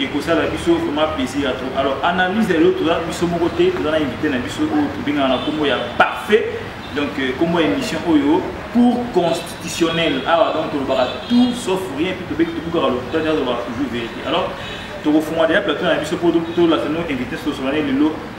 ekosala biso vraiment plaisir ya trop alors analyse ya lelo toza biso moko te toza na invité na biso oyo tobengaka na nkombo ya parfait donc euh, nkombo ya émission oyo cour constitutionnel awa donc tolobaka tout sauf rien puis tobeki tobukaka lokuta te azobaka toujours vérité alors tokofungola deja plateau na biso mpo tolasano invité sosolane lelo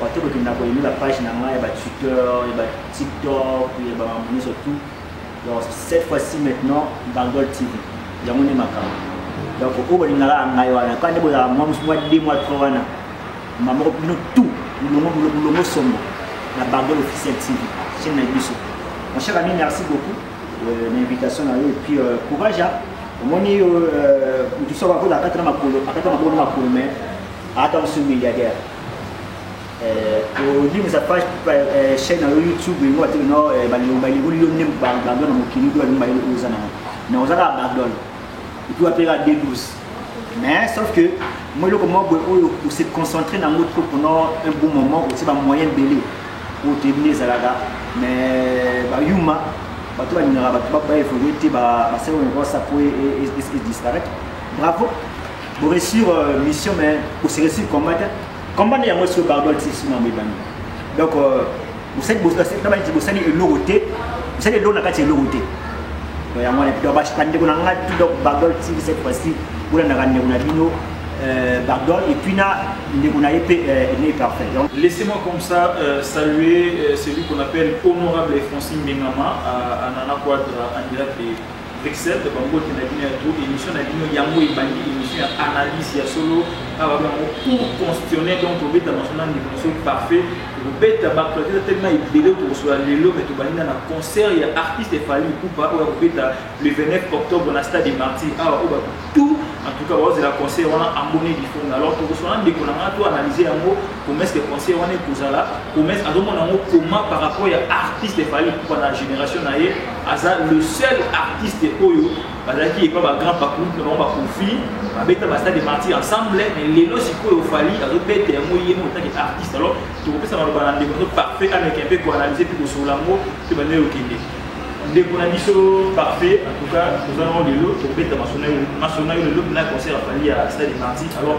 Bato bakenda ko aime ba page na nga ya ba Twitter, ya ba TikTok, ya ba mambo nyonso tout. Donc cette fois-ci maintenant Bangol TV. Yango nde makambo. Donc oyo bolingaka ya ngai wana, kaka nde bozala mwa mosu mwa 2 mwa 3 wana. Mbamba moko bino tout, bulongo bulongo sombo na Bangol officiel TV. Chaîne na biso. Mon cher ami, merci beaucoup euh, na invitation na yo et puis euh, courage. Hein? Omoni yo euh, mutu soko akola akata na makolo, akata makolo na makolo mais Ata mosusu milliardaire. Euh, kolimisa page euh, chaîne na yo youtube yango ati no euh, balingoli yo nde bandole na mokili oyo balingi bayeli oza nango na oza kaka bandole epuis wapeka de 12 mais sauf que moi eloko moko boye oyo ose concentre nango trop pendant un bon moment otie bamoyen ebele oyo toyebi nde ezalaka mais bayuma bato balingaka bato baevolue te basalaka na kosa po e, e, e, e disparaître bravo Bo réussir euh, mission mais bo se réussir combat te. Combat ya mosi barbol ti sima mbe bani. Donc euh, vous savez vous savez na bani bosani eloko te. Vous savez eloko na kati eloko te. Donc ya mwana donc ba ndeko na nga tout donc barbol ti cette fois-ci bola na ndeko na bino euh, Bardol et puis na ndeko na ye pe euh, ne parfait. Donc laissez-moi comme ça euh, saluer euh, celui qu'on appelle honorable Francine Bengama à, à Nana Quadra en direct de Bruxelles ba mbote na bino ya tout émission na bino yango ebandi émission ya analyse ya solo awa bango pour constitutionnel donc tobeta maso na ndeko mosusu parfait tokobeta baclater tellement ebele tokosola lelo me tobandi na na concert ya artiste efali kupa oyo akobeta le 29 octobre na stade de martyr awa oyo bato tout en tout cas baozela concert wana ambone bifonga alors tokosola ndeko na ngai to analyse yango promesse de conseil wana ekozala promesse azomona yango comment par rapport ya artiste fali kupa na génération na ye aza le seul artiste oyo bazalaki epa bagrand pacoute na bango bakofi babeta basta de martir ensemble mais lelo sikoyo fali azobeta yango ye moko otaki artiste alors tokopesa maloba na ndeko azo parfait ameke mpe koanalyse mpe kosolola yango mpe bandele okende ndeko na biso parfait en tout cas toza nango lelo tokobeta masona yo lelo na concert ya fali ya stade de martir alors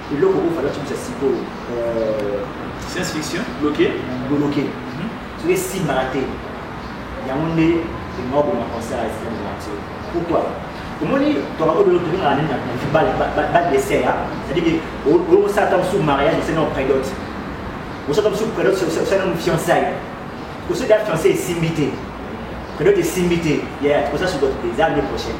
Eloko oyo fallait tubisa sikoyo euh, science fiction bloqué bloqué mhm. soki esimbaka te yango nde elinga koboma concert ya système de nature pourquoi omoni tokakobelotobengaka nini na badesert c'est-à-dire olokosala ta mosusu mariage osali na predote osala ta mosusu predote osali na fiançaille kosoki ya fiancé esimbi te predote esimbi te ya kosala sudote te eza année prochaine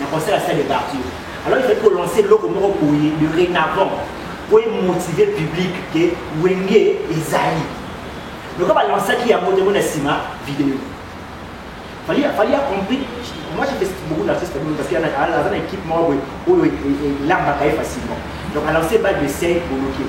Na concert ya salle de quartier. Alors il fallait ko lancer eloko moko boye de renavant po e motiver public que Wenge ezali. Loka ba lancaki yango te mona sima video. Fallait fallait a compris. Moi j'ai fait beaucoup d'artistes parce qu'il y en a dans une équipe moi où où l'amba facilement. Donc à lancer balle de 5 pour bloquer.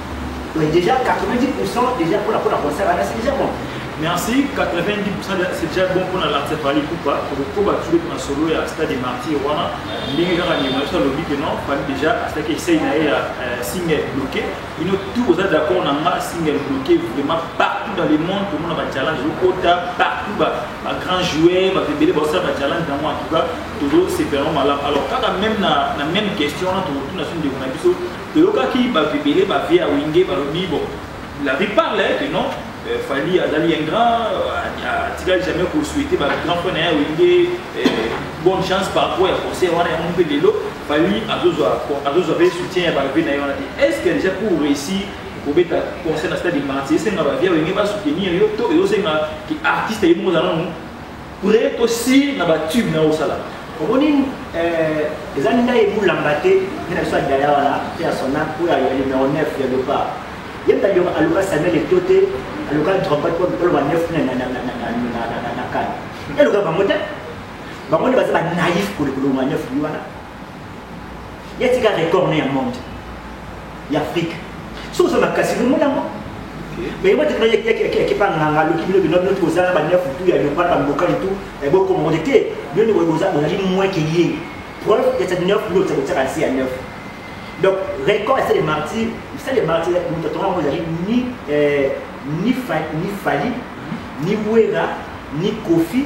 Oui, déjà 90% déjà pour la pour la concert là, c'est déjà bon. Merci, 90% de- c'est déjà bon pour la lance Fally Poupa. Pour le coup, bah, tu es dans solo et à stade des martyrs, voilà. Ndenge kaka ni maestro alobi que non, Fally déjà à stade que essaye na ye ya euh, single bloqué. Il est tout aux d'accord na nga single bloqué vraiment partout dans le monde pour moi ba challenge kota partout ba ba grand joueur, ba bébé ba ça ba challenge dans moi en tout cas, toujours c'est vraiment malade. Alors kaka même na na même question là, tout tout na sur de biso Toyokaki ba vebele ba vie ya wenge balobi bon la vie parle hein, que non euh, Fally azali un grand euh, atikali jamais ko souhaiter ba grand frère na ye wenge euh, bonne chance par rapport ya conseil wana yango mpe lelo Fally azozwa azozwa mpe soutien ya ba vie na ye wana te est ce que déjà pour réussir kobeta conseil na stade de marti esenga ba vie ya wenge ba soutenir yo to ezosenga ki artiste ye moko ozala nanu Pre to sire na ba tube na osala. Omoni eh, eza ndai ebulamba te nde na biso ya daya wana mpe ya sona oyo ya numero 9 ya leopard ye mpe aluka samuel eto te aluka drogbat mpo oloba 9 na kane eluka bango te bango nde baza banaif kolekoloba 9 wana ya tika record na ya monde ya afrique so oza makasi bomoni yango meyeba te yakipanga na nga loki bino bino bino toza na banefu tu ya leopard bambokani tu bokoma mote te bino nde boza ozali moins ke ye preuve ya cette neuf bino oza kotiaka nse ya neuf donc record ese de martyr misali ya martyr moto atonga yango ezali ni ni fali ni wera ni kofi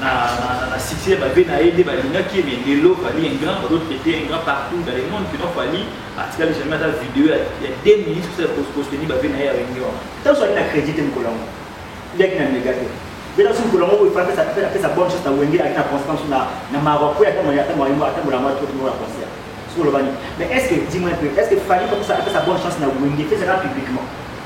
na, na, na, na succès babe na ye nde balingaki ye mais lelo fali un grand bazo traite un grand partout dans le monde kino fali atikali jamais ata video ya, ya 2 minutes kosala kososteni babe na ye ya wenge wana ntango soki na crédit te mokolo yango ndeki na mega te bela so mokolo yango oyo apesa apesa bonne chose na wenge ayaki na constance na na mawa mpo atambola mwa to timo na concert soki olobani mais est ce que dis moi un peu est ce que fali apesa bonne chance na wenge fezaka publiquement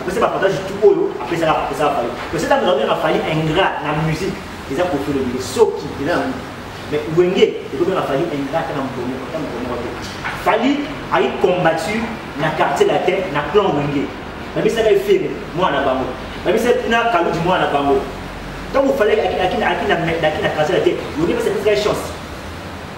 apesa bapartage tu oyo apesaka apesaka fali parce que ntango ezalobengaka fali ingrat na musique eza kofi olobike soki eza na mais wenge ekobengaka fali ingrat ata na moto moko ata moto moko te fali ayi combattu na quartier latin na clan wenge babisaka ye fere mwana na bango babisa na kaludi mwana na bango ntango fali aki na quartier latin wenge pesa epesaka ye chance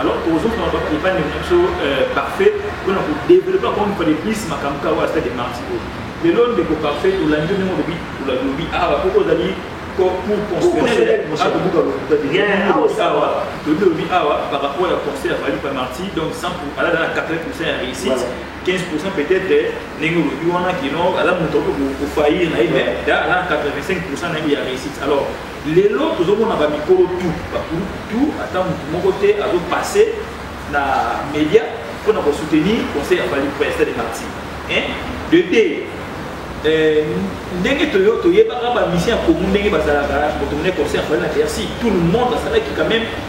alors tozokoma epai na biso euh, parfait mpona kodevelope encore une fois de plus makambo kaka oyo stade marti oyo lelo ndeko parfait olandi ndenge olobi olobi awa ah, mpo ozali pour constitutionnel awa toyebi olobi awa par rapport ya conseil ya fali pamarti donc 100 alada na 80 pourcent ya réussite 15 pourcent peut-être ndenge olobi wana kino aza moto okoki kofaillir na ye mais ala 85 pourcent na ye ya réussite alors Lelo tozo mona ba mikolo tout ba groupe tout ata mutu moko te azo passer na media pona ko soutenir conseil ya Fally Ipupa ya stade de quartier hein de deux euh, ndenge toyo toyebaka ba musiciens ya Congo ndenge bazalaka moto mona conseil ya Fally na Bercy tout le monde azalaki quand même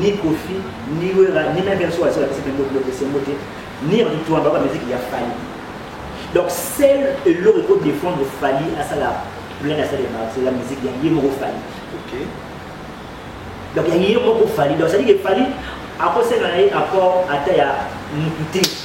ni koffi ni wera ni meme biso wasi bapesi mpe bobiloko esengo te ni rituamba ba musique ya fali donc sel eloko eko défendre fali asala plein asala ya marcela musique ya ye moko fali okay. donc ya ye moko fali donc cetadire fali akosenga na ye apport ata ya motu te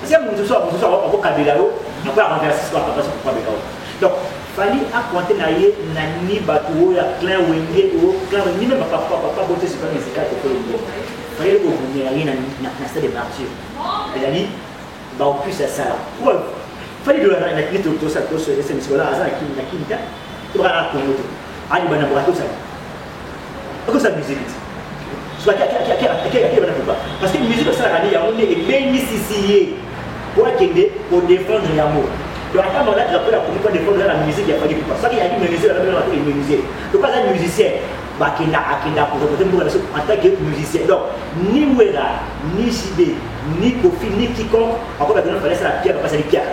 Kasi ya mosusu ya mosusu ako kabela yo après ya renverse sikoyo papa sikoyo kabela yo donc fali akwante na ye na ni bato oyo ya clin wenge oyo clin wenge ni meme papa papa bote sikoyo na esika te kolo ngo fayeli kobundela ye na stade de martyr ezali baopus ya sala preuve fali dola na kini tosala tosala sikoyo aza na kini na kini te tobaka na kongo te ali bana bokatosala okosa musique ti soki akeyaki bana kuba parce que musique osalaka nde yango nde ebengisisi ye mpo akende kodefendre yango donc ata mwana drapo ya komi kodefendre na musique ya faki kuba soki yaki menuisier aaa menuisier donc aza musicien bakenda akenda koreprete mboka na biso en tant que musicien donc ni wera ni jide ni kofi ni quiconque akoba bino fale asala piaka basali piaka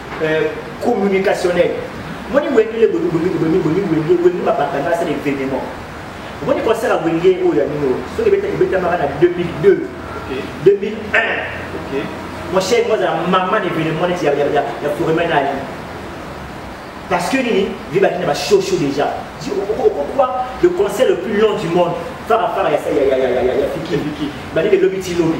euh, communicationnel moni wengele boniwengele wengele babakanga asala événement omoni concert ya wenge oyo ya bino soki ebetamaka na 2002 2001 mon cher moi azala mama na événement neti ya foremen na ali parce que nini vibaki na bashosho déjà pourquoi le concert le plus long du monde farafara ya fikibiki bandi belobi ti lobi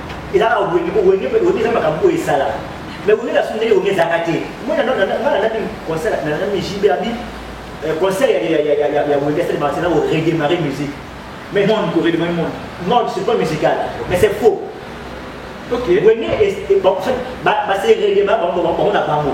eza kaka wenge po wenge wenge eza makambo oyo esala mais wenge na sondeli wenge ezalaka te moi na na na na concert na na JB abi euh, concert ya ya ya ya ya wenge c'est martina au redémarrer musique mais non pour redémarrer monde non c'est pas musical mais c'est faux ok wenge est ba ba c'est redémarrer bango bango na bango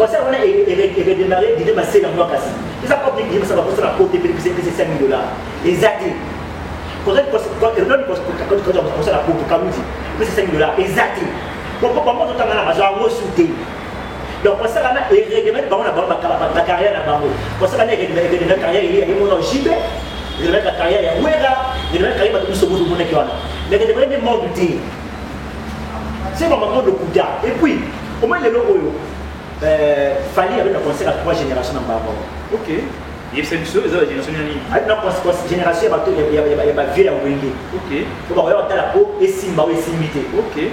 concert wana eredemare dide masela mwa kasi eza public yebisa bakosala po te mpepesa epesa 5000 dollar eza te kosala po tokaluti epesa 5000 dollar eza te po bango totangana bazwa yango su te donc kosaka na ereglement bango na bango ba carrière na bango kosaka na ereglement carrière ya ye mona jibe ereglement carrière ya wera ereglement carrière bato biso bozo monaki wana mais que demande monde te c'est vraiment monde kuda et puis au moins lelo oyo euh, fali avec la concert à trois générations na bango ok yebisa biso eza ba génération ya nini ati na génération ya bato ya bavieux ya wenge ok po bakoya kotala po esimba o esimbi te ok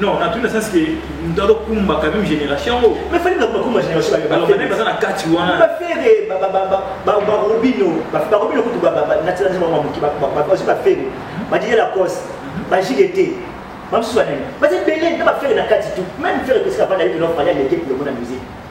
Non, na tout le sens que nous avons kumba quand même génération. Mais fallait pas kumba génération. Alors même pas na kati wana. Ba fere ba ba ba ba ba robino, ba ba robino kutu ba ba na tsana ba mamuki ba ba ba ba fere. Ba dire la cause. Ba jigete. Ba mswana. Ba te belé na ba fere na kati tout. Même fere que ça va d'aller dans le palais de la musique.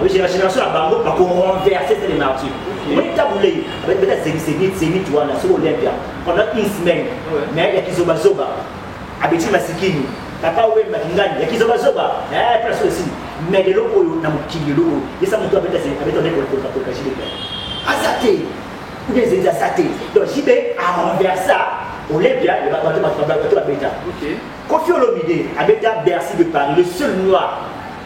la génération ya bango bako renverser stade de martyr omoni ntango lei abeta zenit zenit wana soki olympia pendant une semaine mais ya kizobazoba abeti masikini papa wemba kingani ya kizobazoba place oyo esili mais lelo oyo na mokili lelo oyo yesa moto abeta abeta nde kolukakoluka jibebe aza te oubien zenit aza te donc jibe a renversa olympia bato babeta kofi olomide abeta bercy de paris le seul noir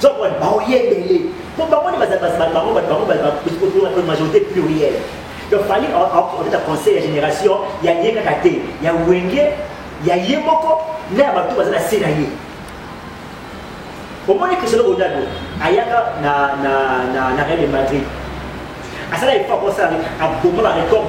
Zokon, baoye ebele. Donc bango nde bazali bato bango bato bango bato majorité plurielle. Donc fallait aokota conseil ya génération ya ye kaka te ya wenge ya ye moko na ya bato baza na se na ye. omoni cristiano ronaldo ayaka na, na, na, na real de madrid asala effort akosala aboma barecord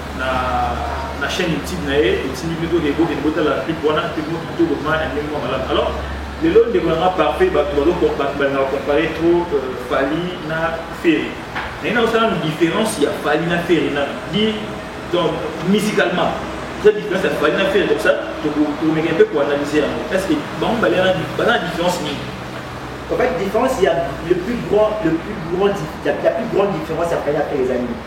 na na chaîne YouTube na ye otindi pe toke bokende botala clip wana pe moko kitoko ma ya ndenge mwa malamu alors lelo ndeko na nga parfait bato bato balingaka compare trop euh, fali na ferre naye naosala na différence ya fali na ferre na di donc musicalement eza différence ya fali na ferre donc ça tokomeka mpe koanalyse yango est ce que bango baza na différence nini En fait, différence, il y a le plus grand, le plus grand, la, la plus grande différence après la paix, les amis.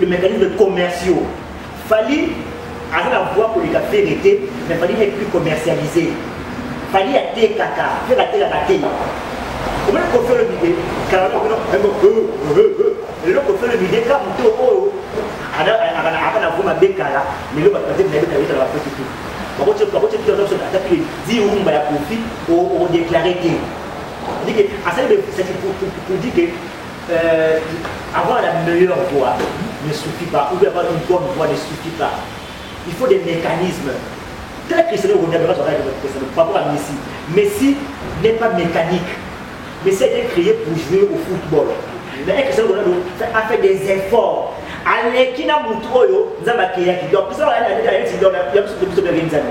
Les mécanismes commerciaux. Fali aza na voix koleka fere te mais fali n'est plus commercialisé fali atekaka fere atekaka te omoni kofi olobide lelo kofi olobide ka moto oyo aka na vo mabe kala lelo bato batebi na yebeta yebeta na bafeti te bakotiaatapile di rumba ya kofi odeklare te asali pour dire que Euh, avoir la meilleure voix ne suffit pas, ou bien avoir une bonne voix ne suffit pas. Il faut des mécanismes. Tel que Cristiano Ronaldo, rapport à Messi. Messi n'est pas mécanique. Messi a été créé pour jouer au football. Mais Cristiano Ronaldo a fait des efforts. aleki na motu oyo nzambe akeyaki donc biso baaa ya biso biso bengenzani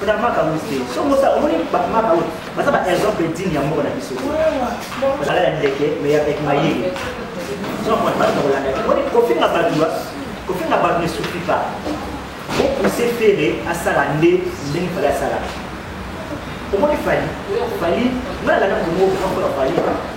Kuna maka muste. Songo sa omoni ba maka oyo. Baza ba exemple digne ya mboka na biso. Bazala ya ndeke mais avec mayele. Songo mwana bato kolanda. Omoni kofinga bato ba kofinga bato ne suffit pas. Ko pousser Ferre asala nde ndenge fallait asala. Omoni Fally, Fally, nalanda komoko grand frère Fally.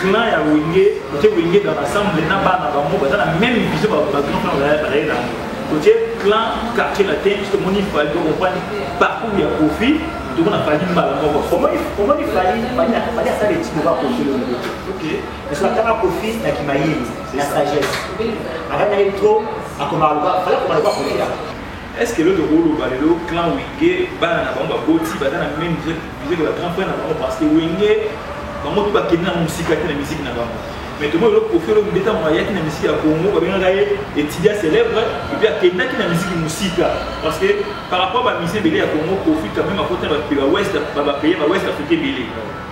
clan ya wenge otie wenge dans l'ensemble na bana bango baza na même vision bagrand frère baye baye na otie clan quartier latin biso tomoni fali tokomprani parcours ya kofi tomona fali mbala moko omoni fali fali asala etimo ba kofi longo biso atanga kofi na kimayini na sagesse akanga ye trop akomaka loba fali akoma loba kofi Est ce que eloko toko loba lelo clan wenge bana na bango baboti baza na meme musique ba grand frère na bango parce que wenge bango tout bakende na musika te na musique na bango mais tomoni eloko kofi eloko beta mwa ayaki na musique ya congo babengaka ye etudia célèbre epuis akendaki na musique musika parce que par rapport ba musicien ebele ya congo kofi quand même akota bapaye ba ouest africain ebele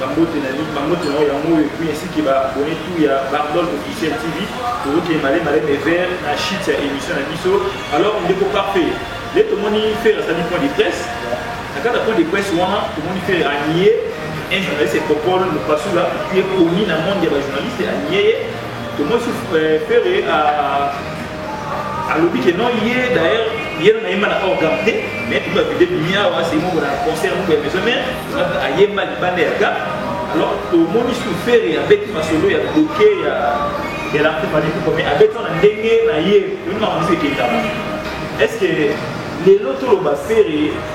Ba mbote na bino, ba mbote na yo ya moyo et puis ainsi que ba abonnés tout ya Bardol Officiel TV. Tozo kende male male mais vers na chute ya émission na biso. Alors ndeko parfait, le tomoni faire asali point de presse. Na kata point de presse wana tomoni faire a nier un journaliste et Popol Lupasula qui est connu na monde ya ba journalistes a nier. Tomoni faire a alobi ke non ye d'ailleurs ye na yemba na hors gamme te mais tout ba vide bimia wa c'est mon concert pour les hommes a yemba libanda ya gamme alors tomoni sur faire ya beti masolo ya bloqué ya ya la coupe du coupe mais avec on ndenge na ye on a envie de est-ce que lelo toloba ferre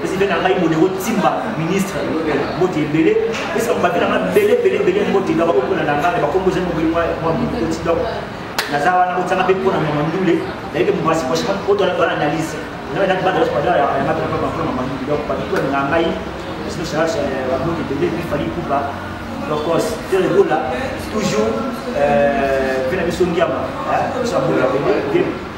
pesi mpe na ngai modero timba ministre mbote ebele pesi bakobape na ngai bele bele bele mbote na bakokona na ngai bakombo ezali mobeli mwa mokoti donc naza wana otyanga mpe mpo na mama ndule nayeke mwasi prochainement mpo tona tona analyse ngai nati bana nyonso badala yanga mpe mpo na mama ndule donc bato tona na ngai sino charge bamote ebele mpe fali kupa donc tere bola toujours mpe na biso ngiama biso ya bola ebele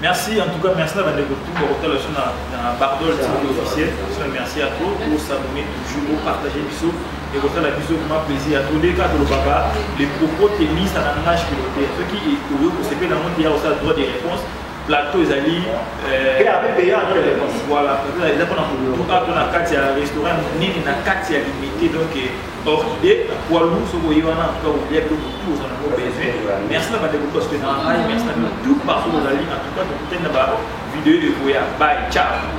Merci en tout cas merci na bande ko tout ko tala sur na na Bardol TV officiel sur merci à tous pour s'abonner toujours pour partager bisous et ko tala bisous ma plaisir à tous les cas de papa les propos tennis à langage que l'auteur ce qui est au lieu que c'est la honte il y a aussi le droit de réponse plateau ezali euh, voilà eza mpona motu ato na kati ya restaurant monene na kati ya limite donc euh, Orchidée na poids lourd soki oye wana antuka olia biloko tout oza nango besoin merci na bandeko parce que na ngai merci na bino tout partout ozali antuka tokutani na bavideo ekoya bay ciao